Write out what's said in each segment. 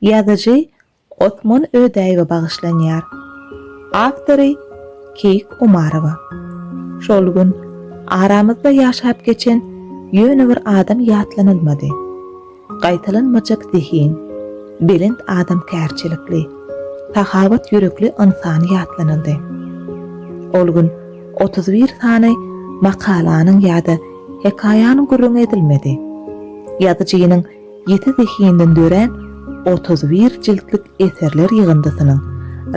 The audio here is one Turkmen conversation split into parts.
Ýazyjy Osman Ödäýewe bagyşlanýar. Awtory Keýik Omarowa. Şol gün aramyzda ýaşap geçen ýöne bir adam ýatlanylmady. Gaýtalanmajak zehin, belent adamkärçilikli, sahawat ýürekli ynsan ýatlanyldy. Ol gün otuz bir sany makalanyň ýa-da hekaýanyň gürrüňi edilmedi. Ýazyjynyň Ýiti zehinden dörän otuz bir jiltlik eserler ýygyndysynyň,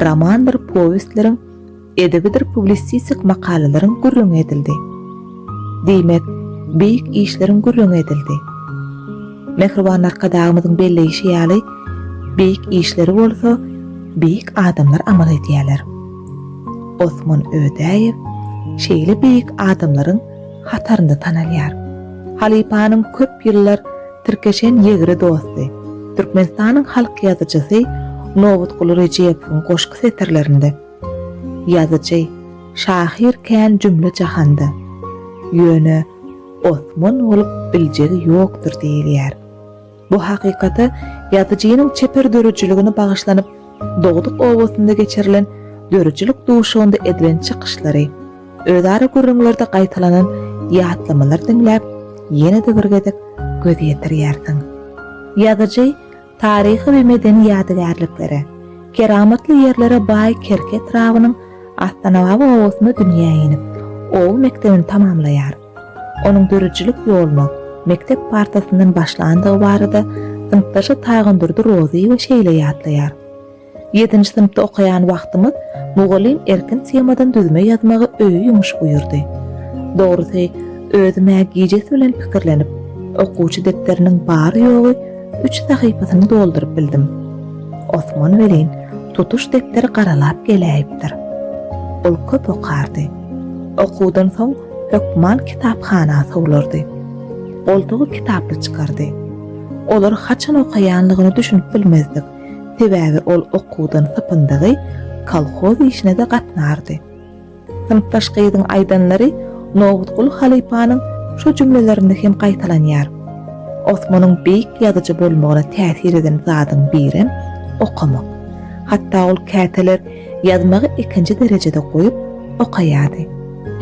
romandyr powestleriň, edebidir publisistik makalalaryň gürrüňi edildi. Diýmek, beýik işleriň gürrüňi edildi. Mähriban Arkadagymyzyň belleýşi ýaly, beýik işleri bolsa beýik adamlar amal edýärler. Osman Ödäýew şeýle beýik adamlaryň hatarynda tanalýar. Halypanyň köp ýyllar tirkeşen ýegre dosty, Türkmenistanyň halk ýazyjysy Nobutguly Rejepowyň goşgy setirlerinde, Ýazyjy, şahyr kän jümle jahanda, Ýöne Osman bolup biljegi ýokdur diýilýär. Bu hakykata ýazyjynyň çeper döredijiligine bagyşlanyp, dogduk obasynda geçirilen döredijilik duşugynda edilen çykyşlary, özara gürrüňlerde gaýtalanan ýatlamalary diňläp, ýene-de bir gezek göz ýetirýärsiň. Ýazyjy taryhy we medeni ýadygärliklere, keramatly ýerlere baý Kerki etrabynyň Astanababa obasynda dünýä inip, oba mekdebini tamamlaýar. Onuň döredijilik ýolunyň mekdep partasyndan başlandygy barada synpdaşy Tagandurdy Rozyýewa şeýle ýatlaýar, Ýedinji synpda okaýan wagtymyz mugallym erkin temadan düzme ýazmagy öýe ýumuş buýurdy. Dogrusy, özüm-ä gijesi bilen pikirlenip, okuwçy depderiniň bary-ýogy üç sahypasyny dolduryp bildim. Osman welin, tutuş depderi garalap geläýipdir. Ol köp okardy. Okuwdan soň hökman kitaphana sowlardy. Goltugy kitaply çykardy. Olary haçan okaýanlygyna düşünip bilmezdik, sebäbi ol okuwdan sypyndygy kolhoz işine-de gatnardy. Synpdaş gyzyň aýdanlary Nowutguly halypanyň şu jümlelerinde hem gaýtalanýar. Osmanyň beýik ýazyjy bolmagyna täsir eden zadyň birem, okamak. Hatda ol käteler Ýazmagy ikinji derejede goýup, okaýardy.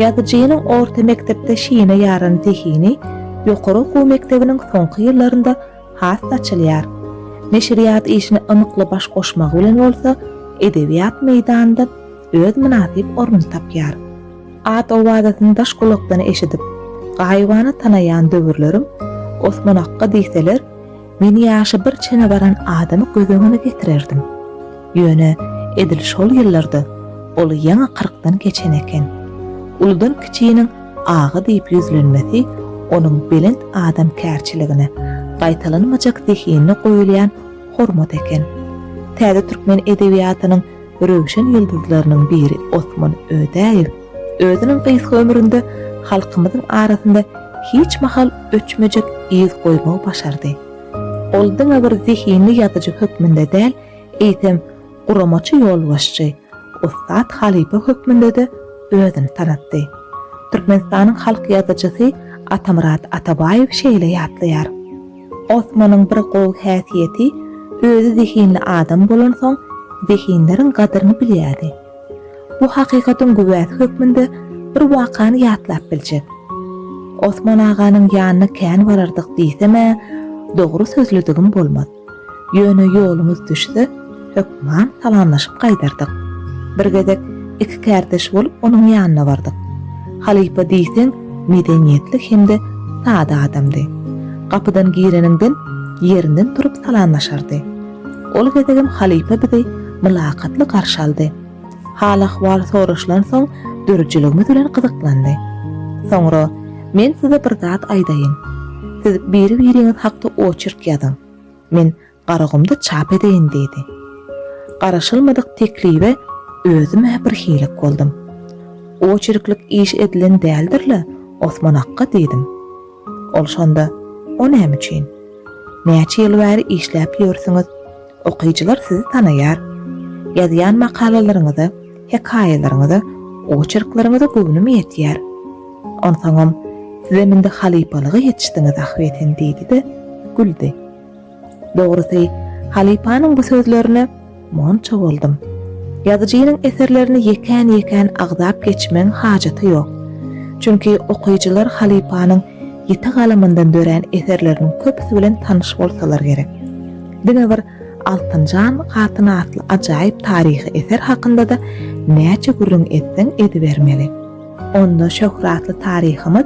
Ýazyjynyň orta mekdepde şine ýaran zehini ýokary okuw mekdebiniň soňky ýyllarynda has saçylýar. Neşirýat işine ymykly baş goşmagy bilen bolsa, edebiýat meýdanynda öz mynasyp ornuny tapýar. At-owazasyny daş gulakdan eşidip, gaýybana tanaýan döwürlerim, Osman akga diýseler, Men ýaşy bir çene baran adamy göz öňüne getirerdim. Ýöne edil şol ýyllarda ol ýaňy kyrkdan geçen eken. Uludan kiçiniň aga diýip ýüzlenmesi onuň belent adamkärçiligine, gaýtalanmajak zehinine goýulýan hormat eken. Täze türkmen edebiýatynyň röwşen ýyldyzlarynyň biri Osman Ödäýew, Özüniň gysga ömründe halkymyzyň arasynda hiç mahal öçmejek yz goýmagy başardy. Ol diňe bir zehinli ýazyjy hökmünde däl, eýsem, guramaçy ýolbaşçy, ussat halypa hökmünde-de özüni tanatdy. Türkmenistanyň halk ýazyjysy Atamyrat Atabaýew şeýle ýatlaýar, Osmanyň bir gowy häsiýeti, özi zehinli adam bolansoň, zehinleriň gadyryny bilýärdi. Bu hakykatyň güwäsi hökmünde bir wakany ýatlap biljek. Osman aganyň ýanyna kän barardyk diýsem-ä, dogry sözlüdigim bolmaz. Ýöne ýolumyz düşse, hökman salamlaşyp gaýdardyk. Bir gezek iki kärdeş bolup onuň ýanyna bardyk. Halypa diýseň medeniýetli hem-de sada adamdy. Gapydan gireniňden ýerinden turup salamlaşardy. Ol gezegem halypa bizi mylakatly garşy aldy. Hal-ahwal soraşylan soň döredijiligimiz bilen gyzyklandy. Soňra, Men size bir zat aýdaýyn. Siz biri-biriňiz hakda oçerk ýazyň. Men Garagumda çap edeýin diýdi. Garaşylmadyk teklibe özüm-ä birhilik boldum. Oçerklik iş edilen däldir-le, Osman akga diýdim. Ol şonda, O näme üçin? Näçe ýyl bäri işläp ýörsüňiz, okyjylar sizi tanaýar. Ýazýan makalalaryňyza, hekaýalaryňyza, oçerkleriňize göwnüm ýetýär. Onsoňam, sizem indi halypalyga ýetişdiňiz ahbetin diýdi-de, güldi. Dogrusy, halypanyň bu sözlerine monça boldum. Ýazyjynyň eserlerini ýekän-ýekän agzap geçmegiň hajaty ýok. Çünki okyjylar halypanyň ýiti galamyndan dörän eserleriniň köpüsi bilen tanyş bolsalar gerek. Diňe bir Altynjan hatyn atly ajaýyp taryhy eser hakynda-da näçe gürrüň etseň edibermeli. Onda şöhratly taryhymyz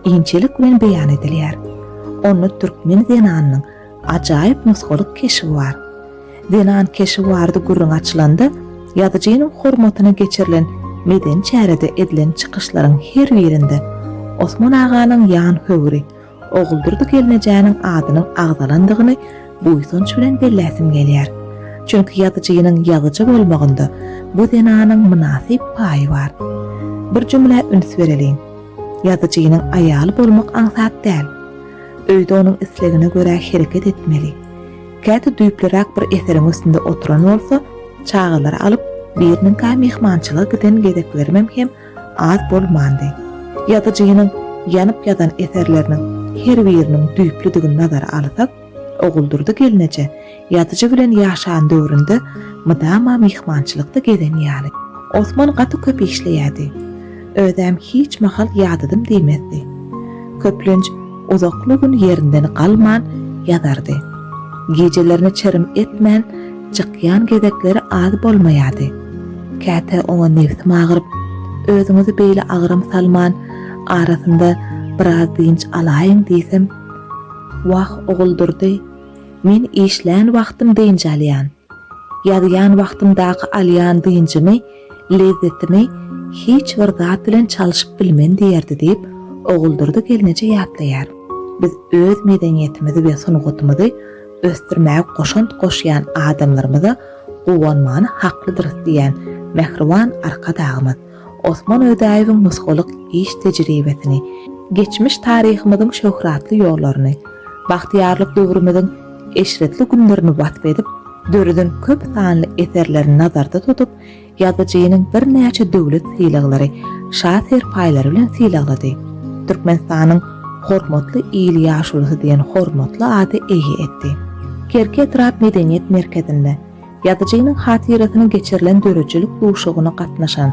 inçelik bilen beýan edilýär. Onda türkmen zenanynyň ajaýyp nusgalyk keşbi bar. Zenan keşbi barada gürrüň açylanda, ýazyjynyň hormatyna geçirilen medeni çärede edilen çykyşlaryň her birinde Osman aganyň ýan höwri Oguldurdy gelnejäniň adynyň agzalandygyny buýsanç bilen belläsim gelýär. Çünki ýazyjynyň ýazyjy bolmagynda bu zenanyň mynasyp paýy bar. Bir jümlä üns bereliň. Ýazyjynyň aýaly bolmak aňsat däl. Öýde onuň islegine görä hereket etmeli. Käte düýpliräk bir eseriň üstünde oturan bolsa, çagalary alyp, biriniňkä myhmançylyga giden gezeklerimem hem az bolmandy. Ýazyjynyň ýanyp ýazan eserleriniň her biriniň düýplüdigini nazara alsak, Oguldurdy gelneje ýazyjy bilen ýaşan döwründe mydama myhmançylykda gezen ýaly. Osman gaty köp işleýärdi. Özem hiç mahal ýadadym diýmezdi. Köplenç uzakly gün ýerinden galman ýazardy. Gijelerini çirim etmän çykýan gezekleri az bolmaýardy. Käte oňa nebsim agyryp, Özüňizi beýle agram salman, arasynda biraz dynç alaýyň diýsem, Wah, Oguldurdy, men işlän wagtym dynç alýan. Ýazýan wagtymdaky alýan dynjymy, lezzetimi hiç bir zat bilen çalşyp bilmen diýerdi diýip, Oguldurdy gelneje ýatlaýar. Biz öz medeniýetimizi we sungatymyzy ösdürmäge goşant goşýan adamlarymyza guwanmany haklydyrys diýýän mähriban Arkadagymyz. Osman Ödäýewiň nusgalyk iş tejribesini, geçmiş taryhymyzyň şöhratly ýollaryny, bagtyýarlyk döwrümiziň eşretli günlerini wasp edip, döreden köp sanly eserlerini nazarda tutup, ýazyjynyň birnäçe döwlet sylaglary, şa serpaýlary bilen sylaglady. Türkmenistanyň Hormatly il ýaşulusy diýen hormatly ada eýe etdi. Kerki etrap medeniýet merkezinde, Ýazyjynyň hatyrasyna geçirilen döredijilik duşugyna gatnaşan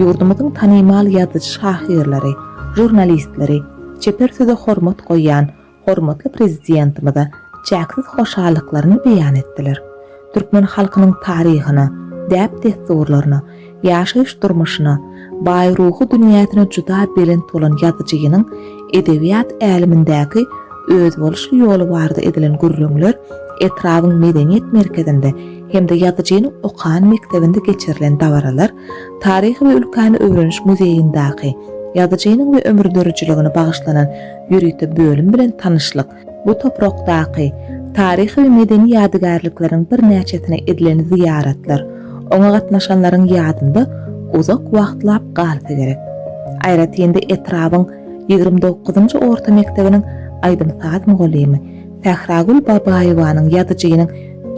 ýurdumyzyň tanymal ýazyjy-şahyrlary, žurnalistleri, çeper söze hormat goýýan hormatly Prezidentimize çäksiz hoşallyklaryny beýan etdiler. Türkmen halkynyň taryhyna, däp-dessurlaryna, Ýaşaýyş durmuşyna, baý ruhy dünýäsine juda belent bolan ýazyjynyň edebiýat älemindäki özboluşly ýoly barada edilen gürrüňler etrabyň medeniýet merkezinde hem-de ýazyjynyň okan mekdebinde geçirilen dabaralar Taryhy we ülkäni öwreniş muzeýindaky ýazyjynyň we ömürdürijiligine bagyşlanan ýörite bölüm bilen tanyşlyk Bu toprakdaky taryhy we medeni ýadygärlikleriň birnäçesine edilen zyýaratlar oňa gatnaşanlaryň ýadynda uzak wagtlap galsa gerek. Aýratyn-da etrabyň ýigrimi dokuzynjy orta mekdebiniň aýdym-saz mugallymy Sähragül Babaýewanyň Ýazyjynyň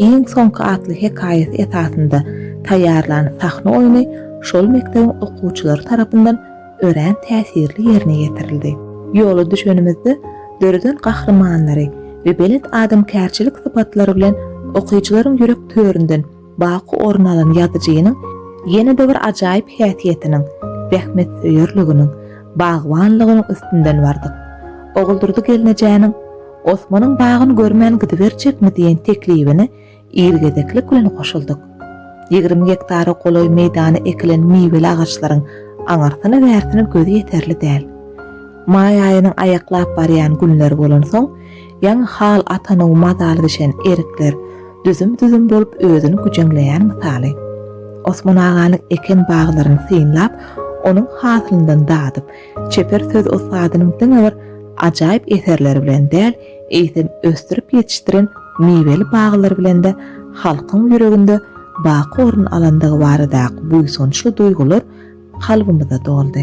iň soňky atly hekaýasy esasynda taýýarlan sahna oýny şol mekdebiň okuwçylary tarapyndan örän täsirli ýerine ýetirildi. Ýola düşenimizde döreden gahrymanlary we belent adamkärçilik sypatlary bilen okyjylaryň ýürek töründen baky orun alan ýazyjynyň ýene-de bir ajaýyp häsiýetiniň, zähmetsöýerliginiň, bagbanlygynyň üstünden bardyk. Oguldurdy gelnejäniň Osmanyň bagyn görmän gidiberjekmi diýen teklibini Ir gezeklik bilen goşuldyk. Ýigrimi gektara golaý meýdana ekilen miweli agaçlaryň aňyrsyna-bärsine göz ýeterli däl. Maý aýynyň aýaklap barýan günleri bolansoň, ýaňy hal atanow mazaly bişen erikler düzüm-düzüm bolup özüni güjeňleýän mysaly. Osman aganyň eken baglaryny synlap, onuň hasylyndan dadyp, çeper söz ussadynyň diňe bir ajaýyp eserleri bilen däl, eýsem ösdürip ýetişdiren miweli baglary bilen-de halkyň ýüreginde baky orun alandygy baradaky buýsançly duýgular kalbymyza doldy.